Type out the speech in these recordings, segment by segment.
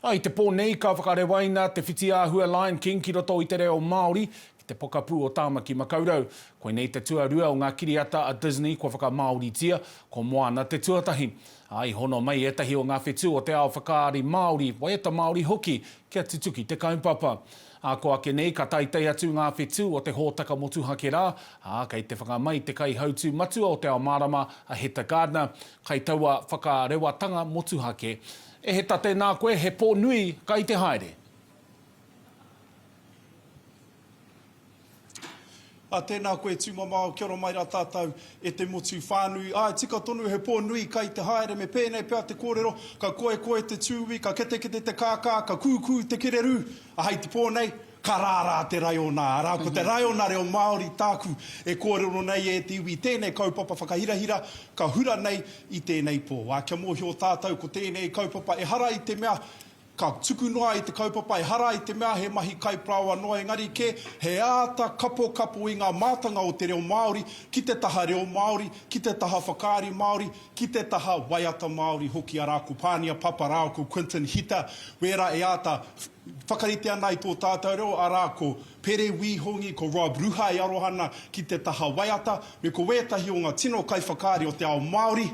I te pō nei ka whakarewaina te whitiāhua Lion King ki roto i te reo Māori ki te pokapū o Tāmaki Makaurau. Koinei te tuarua o ngā kiriata a Disney kua whakamāoritia, ko Moana te tuatahi. Ā, i hono mai ētahi o ngā whetū o te ao whakaari Māori, waiata Māori hoki, kia tutuki te kaupapa. Ā, kua ake nei ka teitei atu ngā whetū o te hōtaka motuhake rā, ā, kei te whanga mai te kaihautū matua o Te Ao Mārama a Heta Gardner, kai taua whakarewatanga motuhake. E heta tēnā koe he pō nui ka i te haere. A tēnā koe tūmamao kia ora mai rā tātou e te motu whānui. Āe tika tonu he pō nui ka i te haere me pēnei pea te kōrero ka koekoe te tūī ka ketekete te kākā ka kūkū te kererū a hei te pō nei Ka rārā te raiona, arā, ko te raiona reo Māori tāku e kōrero nei e te iwi tēnei kaupapa whakahirahira ka hura nei i tēnei pō. Ā, kia mōhio tātou ko tēnei kaupapa ehara i te mea ka tuku noa i te kaupapa, ehara i te mea he mahi kaiparāoa noa engari kē he āta kapokapo i ngā mātanga o te reo Māori ki te taha reo Māori, ki te taha whakaari Māori, ki te taha waiata Māori hoki, arā, ko Pānia Papa rāua ko Quinton Hita, wērā e āta. whakarite ana i tō tātou reo, arā, ko Pere Wī Hongi, ko Rob Ruha e aroha ana ki te taha waiata, me ko wētahi o ngā tino kaiwhakaari o te ao Māori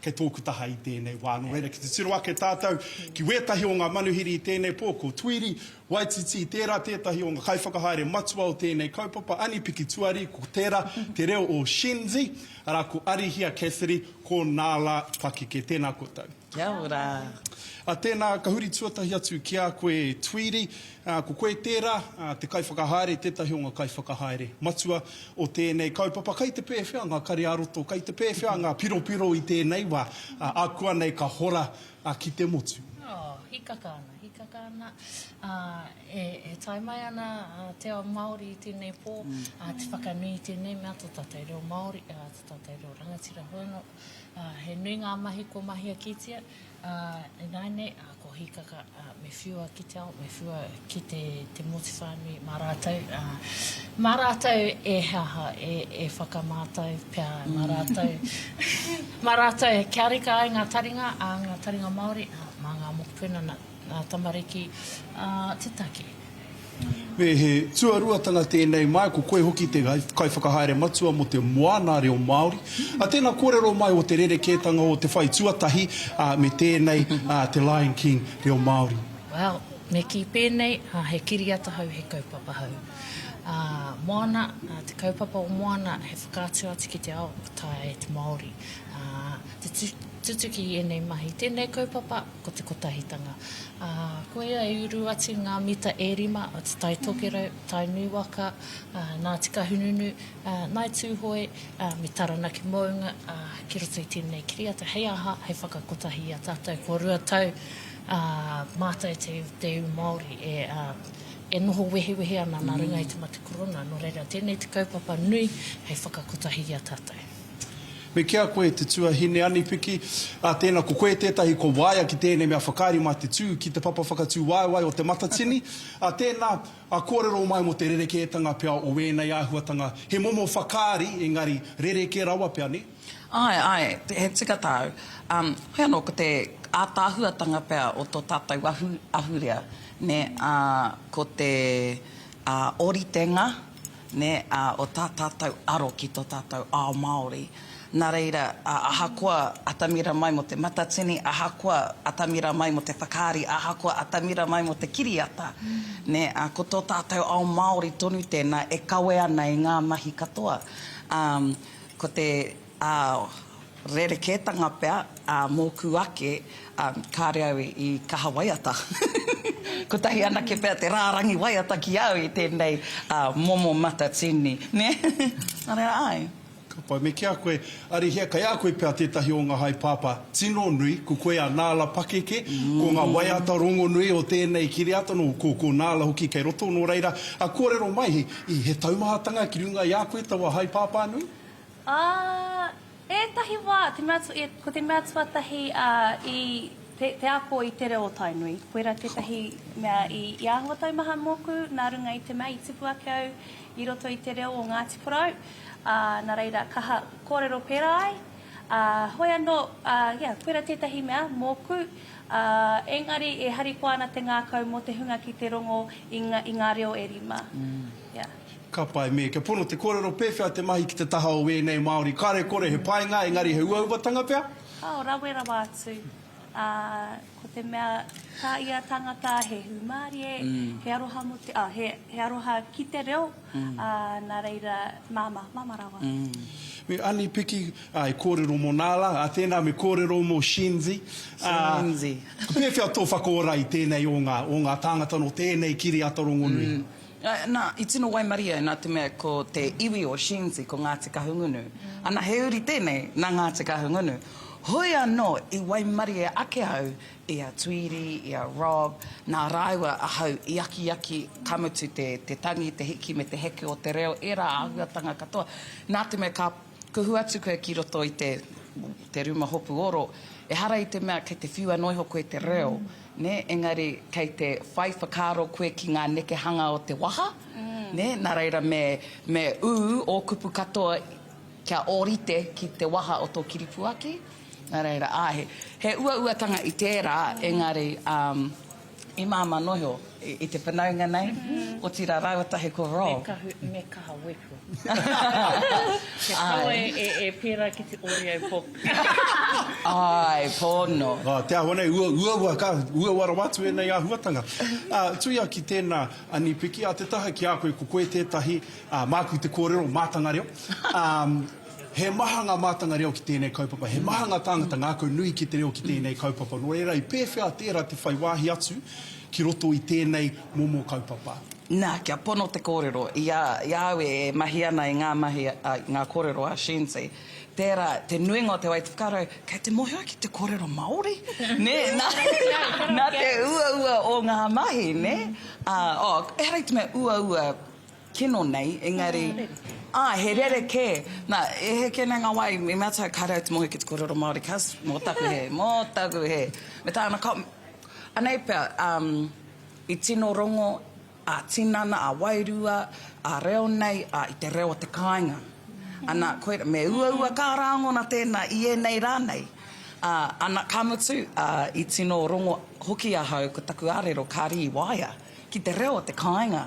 kei tōku taha i tēnei wā. Nō reira, ki te tiro ake tātou ki wētahi o ngā manuhiri i tēnei pō, ko Tuiri Waititi, tērā tētahi o ngā kaiwhakahaere matua o tēnei kaupapa, Ani Pikituari, ko tērā te reo o Shenzi, arā, ko Arihia Cassidy, ko Nāla Pakeke. Tēnā koutou. Kia ora. Tēnā, ka huri tuatahi atu ki a koe Tweedy. Ko koe tērā, te kaiwhakahaere, tētahi o ngā kaiwhakahaere matua o tēnei kaupapa. Kei te pēwhea ngā kare-ā-roto, kei te pēwhea ngā piropiro i tēnei wā, ākuanei ka hora ki te motu? Oh, hīkaka ana, hīkaka ana. E tae mai ana te ao Māori i tēnei pō, te whakanui i tēnei mea, tō tātou reo Māori, tō tātou reo rangatira hono. He nui ngā mahi kua mahia kitia, ā, ināianei, ā, ko Hīkaka, ā, me whiua ki te ao, me whiua ki te, te motu whānui mā rātou, ā, mā rātou e he aha, e, e whakamātau pea mā rātou, mā rātou kia reka ai ngā taringa, ā, ngā taringa Māori, ā, mā ngā mokopuna nā. Ngā tamariki, ā, te take. Me he tuaruatanga tēnei mai, ko koe hoki te Kaiwhakahaere Matua mō te Moana Reo Māori. Tēnā kōrero mai o te rerekētanga o te whai tuatahi me tēnei, te Lion King Reo Māori. Well, me kī pēnei, he kiriata hou, he kaupapa hou. Ā, Moana, te kaupapa o Moana, he whakaatu atu ki te ao, ka taea e te Māori te tutuki i ēnei mahi. Tēnei kaupapa. Ko te kotahitanga, ā, koia i uru atu ngā mita e rima o Te Tai Tokerau, Tai Nūwaka, ā, nā Tikahununu, ā, nāi Tūhoe, ā, me Taranaki Mounga, ā, ki roto i tēnei kiriata, hei aha, hei whakakotahi i a tātou kua rua tau, ā, mātai te, te iwi Māori e, ā, e noho wehewehe ana nā runga i te mate korona, nō reira, tēnei te kaupapa nui hei whakakotahi i a tātou. Me kī a koe, te tuahine anipiki, ā, tēnā, ko koe tētahi kua waia ki tēnei mea whakaari mā te tū ki te papa whakatūwaewae o Te Matatini, ā, tēnā, ā, kōrero mai mō te rerekētanga pea o ēnei āhuatanga, he momo whakaari, engari, rerekē rawa pea, nē? Āe, āe, he tika tāu. Ā, hoi anō, ko te ātaahuatanga pea o tō tātou ahu, ahurea, nē, ā, ko te, ā, ōritenga, nē, ā, o tā tātou aro ki tō tātou ao Māori. Nā reira, ahakoa atamira mai mō te matatini, ahakoa atamira mai mō te whakaari, ahakoa atamira mai mō te kiriata, nē, ā, ko tō tātou ao Māori tonu tēnā e kawe ana i ngā mahi katoa, ā, ko te. Ā, rerekētanga pea ā mōku ake, ā, kāre au i kaha waiata. Kotahi anake pea te rārangi waiata ki au i tēnei ā momo matatini, nē? Nā reira, āe. Ka pai me kia koe. Arihia, kei a koe pea tētahi o ngā haepāpā tino nui, ko koe a Nāla pakeke, ko ngā waiata rongonui o tēnei kiriata, nō, ko, ko Nāla hoki kei roto, nō reira, ā, kōrero mai, he taumahatanga ki runga i a koe taua haepāpā nui? Ā, ētahi wā, te mea, ko te mea tuatahi i te ako i te reo o Tainui, koirā tētahi mea i āhua taumaha mōku nā runga i te mea i tipu ake au i roto i te reo o Ngāti Porou, ā, nā reira, kaha kōrero pērā ai. Ā, hoi anō, ā, ia, koirā tētahi mea mōku, ā, engari e harikoa ana te ngākau mō te hunga ki te rongo i ngā reo e rima. Ia. Ka pai me, kia pono te kōrero pēwhea te mahi ki te taha o wēnei Māori, kare kore he painga engari he uauatanga pea? Ao rawe rawa atu, ā, ko te mea tā ia tangata he hūmārie, he aroha mō te, ā, he, he aroha ki te reo, ā, nā reira, māmā, māmā rawa. Me Ani Piki, ā, e kōrero mō nā la, ā, tēnā me kōrero mō Shenzi, ā, pēwhea tō whakaora i tēnei o ngā, o ngā tāngata nō tēnei kiriata rongonui? Nā, i tino waimarie au nā te mea ko te iwi o Shenzi ko Ngāti Kahungunu. Ana, he uri tēnei nā Ngāti Kahungunu. Hoi anō i waimarie ake au i a Tweedy, i a Rob, nā rāua ahau i akiaki, ka mutu te tangi, te hiki me te heke o te reo, ērā āhuatanga katoa. Nā te mea ka Kuhu atu koe ki roto i te, te ruma hopu oro, ehara i te mea kei te whiua noa iho koe te reo, nē, engari kei te whai whakaaro koe ki ngā nekehanga o te waha, nē, nā reira me, me ū ō kupu katoa kia ōrite ki te waha o tō kiripuaki, nā reira, āe, he, he uauatanga i tērā, engari, um, I māmā noa iho i te whanaunga nei, otirā rāua tahi ko Rob. Me kaha wepo. Kia kaua e pērā ki te ori au Bob. Āe, pono. Te āhua nei, uaua ka, uaua rawa atu ēnei āhuatanga. Tuia ki tēnā Anipiki, a te taha ki a koe, ko koe tētahi, māku te kōrero, mātanga reo. He maha ngā mātanga reo ki tēnei kaupapa, he maha ngā tāngata ngākau nui ki te reo ki tēnei kaupapa, nō reira i pēwhea tērā te whai wāhi atu ki roto i tēnei momo kaupapa? Nā, kia pono te kōrero, i a, i a au e mahi ana i ngā mahi, a, i ngā kōrero a Shenzi, tērā, te nuinga o te wā i te whakaaro, kei te mōhio ki te kōrero Māori, nē, nā, nā te uaua o ngā mahi, nē? Ā, oh, ehara i te mea uaua, Kino nei, engari, ah, he rerekē. Na, e heke nei ngā wā, i mea taku kāre au te mohi ki te kōrero Māori, kas, mō taku hē, mō taku hē. Me tāna ka, anei pea, um, i tino rongo a tinana, a wairua, a reo nei, a i te reo o te kāinga. Ana, koir, me uaua kā rāngona tēnā i ēnei rā nei. A, ana, ka mutu, a, i tino rongo hoki ahau ko taku ārero, kāre i waea. ki te reo o te kāinga,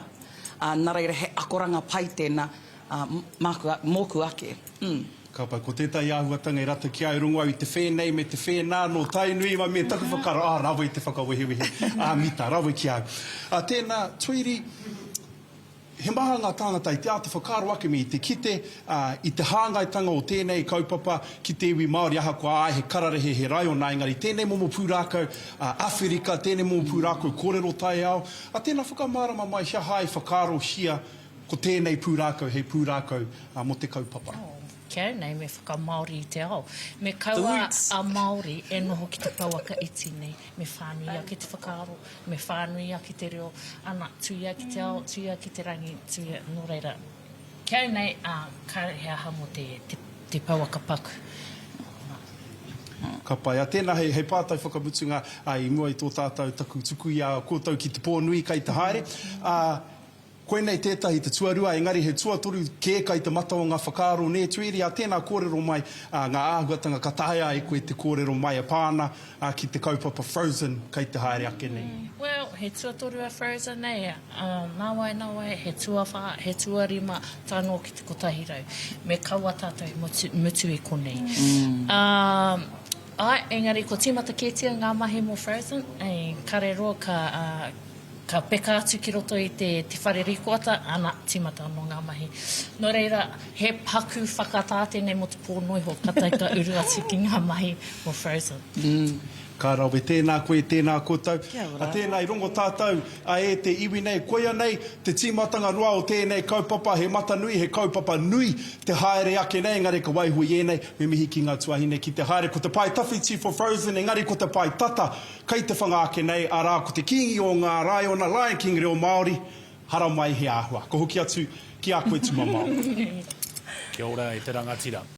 ā, nā reira he akoranga pai tēnā, ā, māku, mōku ake. Hm. Ka pai, ko tētahi āhuatanga e rata ki a i rongo au i te whēnei me te whēnā nō Tainui, mai me taku whakaaro, ā, rawe te whakawehewehe, ā, mita, rawe ki a au. Ā, tēnā, Tweedy, He maha ngā tāngata i te āta whakaaro ake me i te kite i te hāngaitanga o tēnei kaupapa ki te iwi Māori ahakoa āe he kararehe, he raiona engari tēnei momo pūrākau Awherika, tēnei momo pūrākau kōrero taiao, a tēnā whakamārama mai he aha i whakaarohia ko tēnei pūrākau hei pūrākau mō te kaupapa. Oh, kia au nei me whakamāori i te ao. Me kaua a Māori e noho ki te pouaka iti nei. Me whānui ake te whakaaro, me whānui ake te reo, ana, tuia ki te ao, tuia ki te rangi, tuia, nō reira. Ki au nei, kāre he aha mō te, te pouaka paku. Ka pai. A, tēnā, hei, hei pātai whakamutunga, a, i mua i tō tātou taku tuku i a koutou ki te pō nui kai te haere, a, Koinei tētahi te tuarua, engari he tuatoru kē kai te mata o ngā whakaaro nē Tuiri, ā tēnā kōrero mai ā ngā āhuatanga ka taea ai koe te kōrero mai e pā ana ā ki te kaupapa Frozen kai te haere ake nei. Well, he tuatoru a Frozen nei, ā, nāwai, nāwai, he tuawhā, he tuarima, tae noa ki te kotahi rau. Me kaua tātou i mutu, mutu i konei. Ā, āe, engari kua tīmata kētia ngā mahi mō Frozen, ī, kare roa ka, ā, Ka peka atu ki roto i te whare rikoata, ana, timata ano nga mahi. No reira, he paku whakata tenei mo te po no iho, katai ka uru atu ki nga mahi o Frozen. Ka rawe, tēnā koe, tēnā koutou. Kia ora. Tēnā, i rongo tātou e te iwi nei. Koia nei te tīmatanga roa o tēnei kaupapa, he mata nui, he kaupapa nui te haere ake nei, engari ka waiho i ēnei, me mihi ki ngā tuahine ki te haere. Ko te pae tawhiti for Frozen, engari ko te pae tata, Kei te whanga ake nei, arā, ko te Kīngi o ngā Raiona, Lion King reo Māori, haramai he āhua. Ko hoki atu ki a koe tumamao. Kia ora e te rangatira.